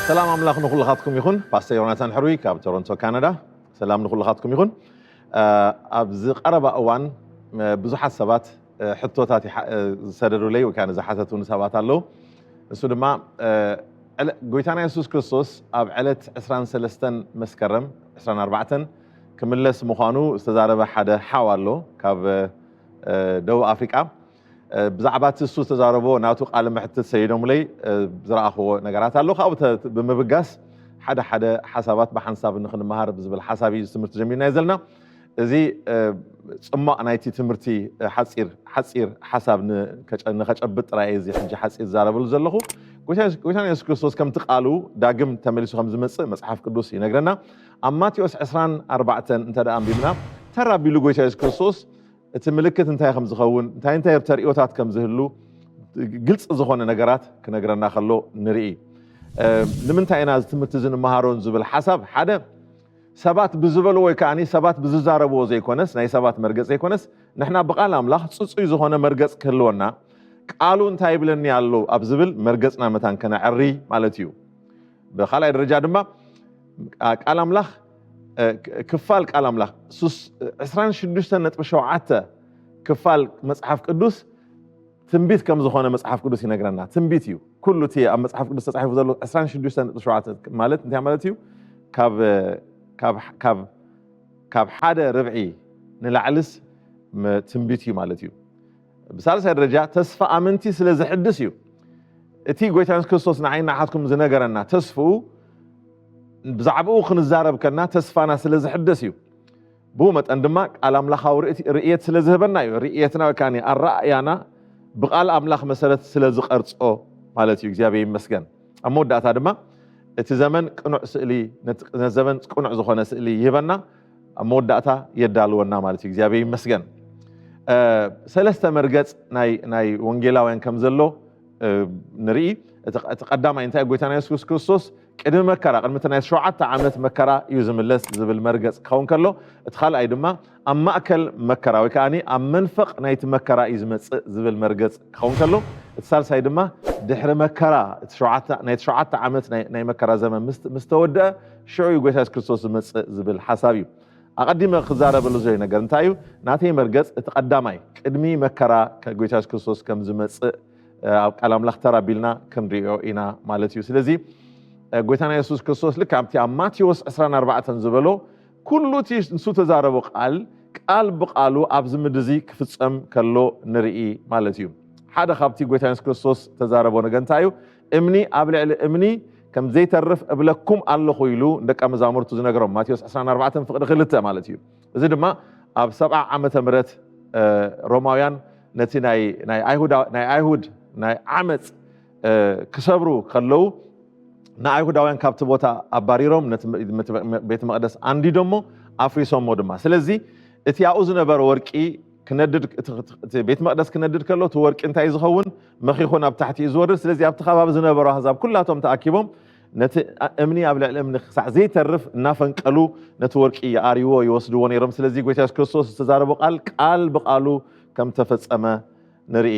ሰላም ኣምላኽ ንኹልኻትኩም ይኹን ፓስተር ዮናታን ሕሩይ ካብ ቶሮንቶ ካናዳ ሰላም ንኹልኻትኩም ይኹን ኣብዚ ቀረባ እዋን ብዙሓት ሰባት ሕቶታት ዝሰደዱለይ ወይ ከዓ ንዝሓተቱኒ ሰባት ኣለዉ እሱ ድማ ጎይታና የሱስ ክርስቶስ ኣብ ዕለት 23 መስከረም 24 ክምለስ ምዃኑ ዝተዛረበ ሓደ ሓው ኣሎ ካብ ደቡብ ኣፍሪቃ ብዛዕባ እቲ እሱ ዝተዛረቦ ናቱ ቃለ መሕትት ሰይዶምለይ ዝረኣኽዎ ነገራት ኣሎ ካብኡ ብምብጋስ ሓደ ሓደ ሓሳባት ብሓንሳብ ንክንመሃር ብዝብል ሓሳብ እዩ ትምህርቲ ጀሚርናዮ ዘለና እዚ ፅሟቕ ናይቲ ትምህርቲ ሓፂር ሓፂር ሓሳብ ንከጨብጥ ጥራይ እዚ ሕጂ ሓፂር ዝዛረበሉ ዘለኹ ጎይታና የሱስ ክርስቶስ ከምቲ ቃሉ ዳግም ተመሊሱ ከም ዝመፅእ መፅሓፍ ቅዱስ ይነግረና ኣብ ማቴዎስ ዕስራን ኣርባዕተን እንተ ኣንቢብና ተር ኣቢሉ ጎይታ የሱስ ክርስቶስ እቲ ምልክት እንታይ ከም ዝኸውን እንታይ እንታይ ተርእዮታት ከም ዝህሉ ግልፂ ዝኾነ ነገራት ክነግረና ከሎ ንርኢ ንምንታይ ኢና እዚ ትምህርቲ እዚ ንመሃሮን ዝብል ሓሳብ ሓደ ሰባት ብዝበልዎ ወይ ከዓኒ ሰባት ብዝዛረብዎ ዘይኮነስ ናይ ሰባት መርገፅ ዘይኮነስ ንሕና ብቃል ኣምላኽ ፅፁይ ዝኾነ መርገፅ ክህልወና ቃሉ እንታይ ይብለኒ ኣሎ ኣብ ዝብል መርገፅና መታን ከነዕሪ ማለት እዩ ብካልኣይ ደረጃ ድማ ቃል ኣምላኽ ክፋል ቃል ኣምላኽ ሱስ 26.7 ክፋል መጽሓፍ ቅዱስ ትንቢት ከም ዝኾነ መጽሓፍ ቅዱስ ይነግረና። ትንቢት እዩ ኩሉ እቲ ኣብ መጽሓፍ ቅዱስ ተጻሒፉ ዘሎ 26.7 ማለት እንታይ ማለት እዩ? ካብ ሓደ ርብዒ ንላዕልስ ትንቢት እዩ ማለት እዩ። ብሳልሳይ ደረጃ ተስፋ ኣመንቲ ስለ ዘሕድስ እዩ። እቲ ጎይታ የሱስ ክርስቶስ ንዓይን ንዓኻትኩም ዝነገረና ተስፍኡ ብዛዕባኡ ክንዛረብ ከና ተስፋና ስለ ዝሕደስ እዩ። ብኡ መጠን ድማ ቃል ኣምላኻዊ ርእየት ስለ ዝህበና እዩ። ርእየትና ወይ ከኣ ኣረኣእያና ብቃል ኣምላኽ መሰረት ስለ ዝቐርጾ ማለት እዩ። እግዚኣብሔር ይመስገን። ኣብ መወዳእታ ድማ እቲ ዘመን ቅኑዕ ስእሊ ነቲ ዘመን ቅኑዕ ዝኾነ ስእሊ ይህበና። ኣብ መወዳእታ የዳልወና ማለት እዩ እግዚኣብሔር ይመስገን ሰለስተ መርገፅ ናይ ወንጌላውያን ከም ዘሎ ንርኢ እቲ ቀዳማይ እንታይ ጎይታና የሱስ ክርስቶስ ቅድሚ መከራ ቅድሚ እቲ ናይ ሸውዓተ ዓመት መከራ እዩ ዝምለስ ዝብል መርገፅ ክኸውን ከሎ እቲ ካልኣይ ድማ ኣብ ማእከል መከራ ወይ ከዓኒ ኣብ መንፈቕ ናይቲ መከራ እዩ ዝመፅእ ዝብል መርገፅ ክኸውን ከሎ እቲ ሳልሳይ ድማ ድሕሪ መከራ ናይቲ ሸውዓተ ዓመት ናይ መከራ ዘመን ምስ ተወድአ ሽዑ እዩ ጎይታ የሱስ ክርስቶስ ዝመጽእ ዝብል ሓሳብ እዩ ኣቐዲመ ክዛረበሉ ዝደልዮ ነገር እንታይ እዩ ናተይ መርገጽ እቲ ቀዳማይ ቅድሚ መከራ ጎይታ የሱስ ክርስቶስ ከም ዝመጽእ ኣብ ቃል ኣምላኽ ተራ ቢልና ክንሪኦ ኢና ማለት እዩ ስለዚ ጎይታና የሱስ ክርስቶስ ልክ ኣብቲ ኣብ ማቴዎስ 24 ዝበሎ ኩሉ እቲ ንሱ ተዛረቦ ቃል ቃል ብቃሉ ኣብዚ ምድሪ እዚ ክፍፀም ከሎ ንርኢ ማለት እዩ ሓደ ካብቲ ጎይታ የሱስ ክርስቶስ ተዛረቦ ነገር እንታይ እዩ እምኒ ኣብ ልዕሊ እምኒ ከም ዘይተርፍ እብለኩም ኣለኹ ኢሉ ንደቀ መዛሙርቱ ዝነገሮም ማቴዎስ 20 4 ፍቕዲ ክልተ ማለት እዩ እዚ ድማ ኣብ ሰብዓ ዓመተ ምረት ሮማውያን ነቲ ናይ ኣይሁድ ናይ ዓመፅ ክሰብሩ ከለዉ ንኣይሁዳውያን ካብቲ ቦታ ኣባሪሮም ነቲ ቤተ መቅደስ ኣንዲዶሞ ኣፍሪሶሞ ድማ ስለዚ እቲ ኣብኡ ዝነበረ ወርቂ ክነድድ ቤት መቅደስ ክነድድ ከሎ እቲ ወርቂ እንታይ ዝኸውን መኺኹ ናብ ታሕቲ እዩ ዝወርድ። ስለዚ ኣብቲ ከባቢ ዝነበሩ ኣህዛብ ኩላቶም ተኣኪቦም ነቲ እምኒ ኣብ ልዕሊ እምኒ ክሳዕ ዘይተርፍ እናፈንቀሉ ነቲ ወርቂ ይኣርይዎ ይወስድዎ ነይሮም። ስለዚ ጎይታ የሱስ ክርስቶስ ዝተዛረቦ ቃል ቃል ብቃሉ ከም ተፈጸመ ንርኢ።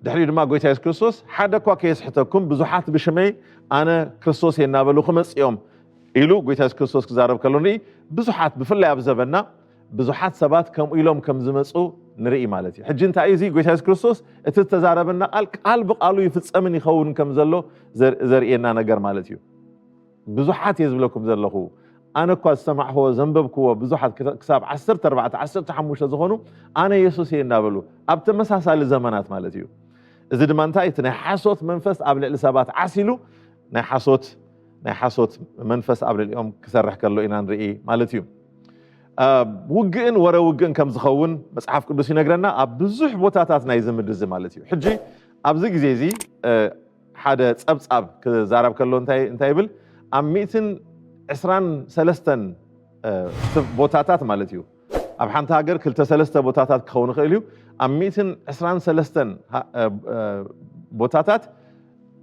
ድሕሪኡ ድማ ጎይታ የሱስ ክርስቶስ ሓደ እኳ ከየስሕተኩም ብዙሓት ብሽመይ ኣነ ክርስቶስ እየ እናበሉ ክመጽኦም ኢሉ ጎይታ የሱስ ክርስቶስ ክዛረብ ከሎ ንርኢ። ብዙሓት ብፍላይ ኣብ ዘበና ብዙሓት ሰባት ከምኡ ኢሎም ከም ዝመጹ ንርኢ ማለት እዩ። ሕጂ እንታይ እዩ እዚ ጎይታ የሱስ ክርስቶስ እቲ ዝተዛረበና ቃል ቃል ብቃሉ ይፍጸምን ይኸውን ከም ዘሎ ዘርእየና ነገር ማለት እዩ። ብዙሓት እየ ዝብለኩም ዘለኹ ኣነ እኳ ዝሰማዕክዎ ዘንበብክዎ ብዙሓት ክሳብ 14 15 ዝኾኑ ኣነ የሱስ እየ እናበሉ ኣብ ተመሳሳሊ ዘመናት ማለት እዩ። እዚ ድማ እንታይ እቲ ናይ ሓሶት መንፈስ ኣብ ልዕሊ ሰባት ዓሲሉ ናይ ሓሶት ናይ ሓሶት መንፈስ ኣብ ልዕሊኦም ክሰርሕ ከሎ ኢና ንርኢ ማለት እዩ ውግእን ወረ ውግእን ከም ዝኸውን መፅሓፍ ቅዱስ ይነግረና ኣብ ብዙሕ ቦታታት ናይ ዝምድ እዚ ማለት እዩ ሕጂ ኣብዚ ግዜ እዚ ሓደ ፀብፃብ ክዛረብ ከሎ እንታይ ይብል ኣብ ሚእትን ዕስራን ሰለስተን ቦታታት ማለት እዩ ኣብ ሓንቲ ሃገር ክልተ ሰለስተ ቦታታት ክኸውን ይኽእል እዩ። ኣብ ሚእትን ዕስራን ሰለስተን ቦታታት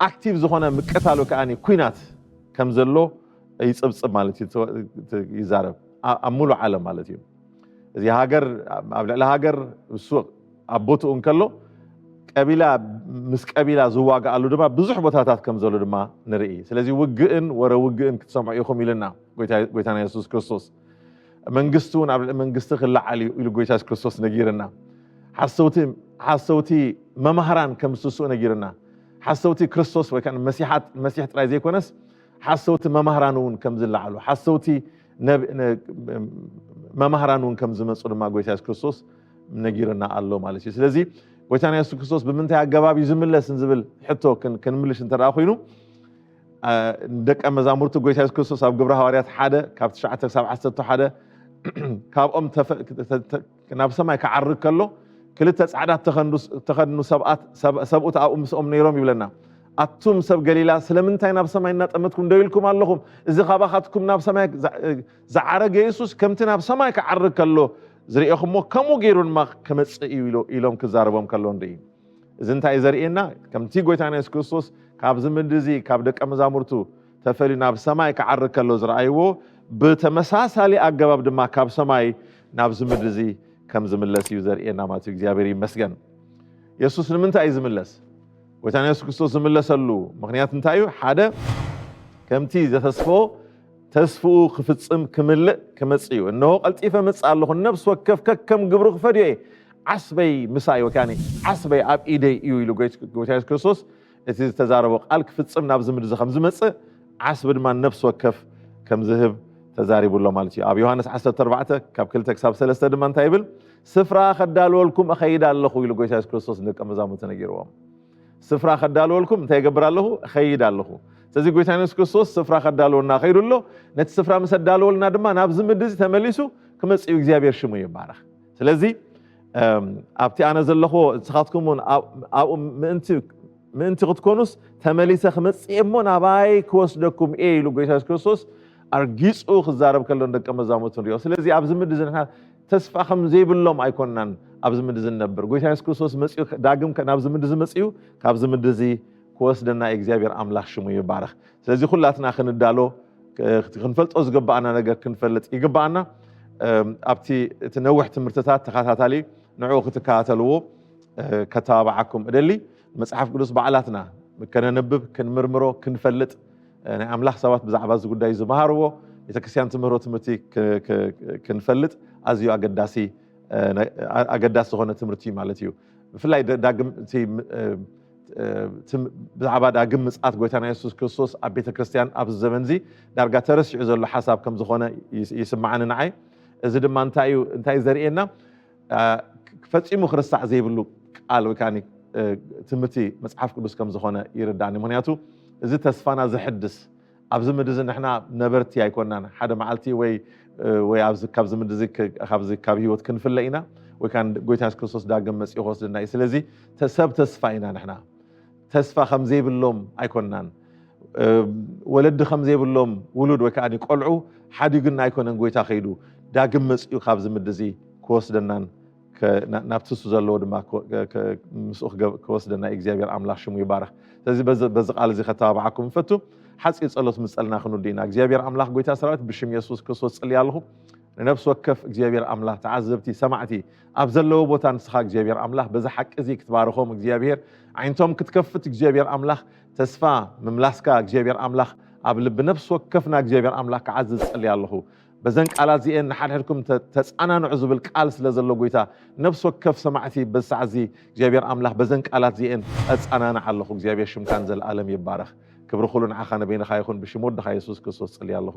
ኣክቲቭ ዝኾነ ምቅታል ወይ ከኣ ኩናት ከም ዘሎ ይጽብጽብ ማለት እዩ ይዛረብ ኣብ ሙሉእ ዓለም ማለት እዩ እዚ ሃገር ኣብ ልዕሊ ሃገር እሱ ኣብ ቦትኡ እንከሎ ቀቢላ ምስ ቀቢላ ዝዋግኣሉ ድማ ብዙሕ ቦታታት ከም ዘሎ ድማ ንርኢ ስለዚ ውግእን ወረ ውግእን ክትሰምዑ ኢኹም ኢልና ጎይታና የሱስ ክርስቶስ መንግስቲ እውን ኣብ ልዕሊ መንግስቲ ክለዓል እዩ ኢሉ ጎይታ የሱስ ክርስቶስ ነጊርና ሓሰውቲ ሓሰውቲ መማህራን ከም ዝትስኡ ነጊርና ሓሰውቲ ክርስቶስ ወይ ከዓ መሲሓት መሲሕ ጥራይ ዘይኮነስ ሓሰውቲ መማህራን እውን ከም ዝለዓሉ ሓሰውቲ መማህራን እውን ከም ዝመፁ ድማ ጎይታ የሱስ ክርስቶስ ነጊርና ኣሎ ማለት እዩ ስለዚ ጎይታና የሱስ ክርስቶስ ብምንታይ ኣገባብ እዩ ዝምለስ ዝብል ሕቶ ክንምልሽ እንተደኣ ኮይኑ ደቀ መዛሙርቲ ጎይታ የሱስ ክርስቶስ ኣብ ግብረ ሃዋርያት ሓደ ካብ ትሽዓተ ክሳብ ዓሰርተ ሓደ ካብኦም ናብ ሰማይ ክዓርግ ከሎ ክልተ ጻዕዳት ተኸድኑ ሰብኣት ሰብኡት ኣብኡ ምስኦም ነይሮም ይብለና ኣቱም ሰብ ገሊላ ስለምንታይ ናብ ሰማይ እናጠመትኩም ደው ኢልኩም ኣለኹም እዚ ካባኻትኩም ናብ ሰማይ ዝዓረገ የሱስ ከምቲ ናብ ሰማይ ክዓርግ ከሎ ዝርኤኹሞ ከምኡ ገይሩ ድማ ክመፅእ እዩ ኢሎም ክዛረቦም ከሎ ንርኢ እዚ እንታይ እዩ ዘርእየና? ከምቲ ጎይታና የሱስ ክርስቶስ ካብዚ ምድሪ እዚ ካብ ደቀ መዛሙርቱ ተፈልዩ ናብ ሰማይ ክዓርግ ከሎ ዝረኣይዎ ብተመሳሳሊ ኣገባብ ድማ ካብ ሰማይ ናብዚ ምድሪ እዚ ከም ዝምለስ እዩ ዘርእየና ማለት እዩ። እግዚኣብሔር ይመስገን። የሱስ ንምንታይ እዩ ዝምለስ? ጎይታና የሱስ ክርስቶስ ዝምለሰሉ ምክንያት እንታይ እዩ? ሓደ ከምቲ ዘተስፎ ተስፍኡ ክፍጽም ክምልእ ክመጽእ እዩ እነሆ ቀልጢፈ እመጽእ ኣለኹ ነፍሲ ወከፍ ከከም ግብሩ ክፈድዮ እየ ዓስበይ ምሳይ ወካኒ ዓስበይ ኣብ ኢደይ እዩ ኢሉ ጎይታ የሱስ ክርስቶስ እቲ ዝተዛረቦ ቃል ክፍጽም ናብዚ ምድሪ ከም ዝመጽእ ዓስቢ ድማ ነፍሲ ወከፍ ከም ዝህብ ተዛሪቡ ኣሎ ማለት እዩ ኣብ ዮሃንስ 14 ካብ 2 ክሳብ 3 ድማ እንታይ ይብል ስፍራ ከዳልወልኩም እኸይድ ኣለኹ ኢሉ ጎይታ የሱስ ክርስቶስ ንደቀ መዛሙርቲ ነጊርዎም ስፍራ ከዳልወልኩም እንታይ እገብር ኣለኹ? እኸይድ ኣለኹ። ስለዚ ጎይታና የሱስ ክርስቶስ ስፍራ ከዳልወልና ከይዱ ኣሎ። ነቲ ስፍራ ምስ ኣዳለወልና ድማ ናብዚ ምድሪ እዚ ተመሊሱ ክመጽእ እዩ። እግዚኣብሔር ሽሙ ይባረኽ። ስለዚ ኣብቲ ኣነ ዘለኹዎ ንስኻትኩም እውን ኣብኡ ምእንቲ ምእንቲ ክትኮኑስ ተመሊሰ ክመጽእ እሞ ናባይ ክወስደኩም እየ ኢሉ ጎይታ የሱስ ክርስቶስ ኣርጊጹ ክዛረብ ከሎ ንደቀ መዛሙርቱ ንሪኦ። ስለዚ ኣብዚ ምድሪ እዚ ንሕና ተስፋ ከም ዘይብሎም ኣይኮናን ኣብዚ ምድሪ ዝነብር ጎይታ የሱስ ክርስቶስ መፅኡ ዳግም ናብዚ ምድሪ ዝመፅኡ ካብዚ ምድሪ እዚ ክወስደና እዩ እግዚኣብሔር ኣምላኽ ሽሙ ይባረኽ ስለዚ ኩላትና ክንዳሎ ክንፈልጦ ዝግባኣና ነገር ክንፈልጥ ይግባኣና ኣብቲ እቲ ነዊሕ ትምህርትታት ተኸታታሊ ንዕኡ ክትከታተልዎ ከተባብዓኩም እደሊ መፅሓፍ ቅዱስ ባዕላትና ከነንብብ ክንምርምሮ ክንፈልጥ ናይ ኣምላኽ ሰባት ብዛዕባ እዚ ጉዳይ ዝመሃርዎ ቤተ ክርስቲያን ትምህሮ ትምህርቲ ክንፈልጥ ኣዝዩ ኣገዳሲ ኣገዳሲ ዝኾነ ትምህርቲ እዩ ማለት እዩ ብፍላይ ዳግም ብዛዕባ ዳግም ምፅኣት ጎይታና የሱስ ክርስቶስ ኣብ ቤተ ክርስቲያን ኣብዚ ዘመን እዚ ዳርጋ ተረሲዑ ዘሎ ሓሳብ ከም ዝኾነ ይስምዓኒ ንዓይ እዚ ድማ እንታይ እዩ እንታይ ዘርእየና ፈፂሙ ክርሳዕ ዘይብሉ ቃል ወይ ከዓ ትምህርቲ መፅሓፍ ቅዱስ ከም ዝኾነ ይርዳእኒ ምክንያቱ እዚ ተስፋና ዘሕድስ ኣብዚ ምድሪ እዚ ንሕና ነበርቲ ኣይኮናን ሓደ መዓልቲ ወይ ወይ ኣብዚ ካብዚ ምድሪ እዚ ካብዚ ካብ ህይወት ክንፍለ ኢና ወይ ከዓ ጎይታ የሱስ ክርስቶስ ዳግም መፂኡ ክወስድና እዩ ስለዚ ሰብ ተስፋ ኢና ንሕና ተስፋ ከም ዘይብሎም ኣይኮናን ወለዲ ከም ዘይብሎም ውሉድ ወይ ከኣ ቆልዑ ሓዲጉና ኣይኮነን ጎይታ ከይዱ ዳግም መጽኡ ካብዚ ምድሪ እዚ ክወስደናን ናብቲ ንሱ ዘለዎ ድማ ምስኡ ክወስደና እዩ እግዚኣብሔር ኣምላኽ ሽሙ ይባረኽ ስለዚ በዚ ቃል እዚ ከተባብዓኩም ንፈቱ ሓፂር ጸሎት ምስ ጸልና ክንውዲ ኢና እግዚኣብሔር ኣምላኽ ጎይታ ሰራዊት ብሽም የሱስ ክርስቶስ ጽልያ ኣለኹ ንነፍሲ ወከፍ እግዚኣብሔር ኣምላኽ ተዓዘብቲ ሰማዕቲ ኣብ ዘለዎ ቦታ ንስኻ እግዚኣብሔር ኣምላኽ በዚ ሓቂ እዚ ክትባርኾም እግዚኣብሔር ዓይነቶም ክትከፍት እግዚኣብሔር ኣምላኽ ተስፋ ምምላስካ እግዚኣብሔር ኣምላኽ ኣብ ልቢ ነፍሲ ወከፍና እግዚኣብሔር ኣምላኽ ክዓዝዝ ጸልያ ኣለኹ በዘን ቃላት እዚኤን ንሓድሕድኩም ተፃናንዑ ዝብል ቃል ስለ ዘሎ ጎይታ ነፍሲ ወከፍ ሰማዕቲ በዚ ሰዓት እዚ እግዚኣብሔር ኣምላኽ በዘን ቃላት እዚኤን ኣፃናንዕ ኣለኹ እግዚኣብሔር ሽምካን ዘለኣለም ይባረኽ ክብሪ ኩሉ ንዓኻ ንበይንኻ ይኹን ብሽም ወድኻ የሱስ ክርስቶስ ፅልያ ኣለኹ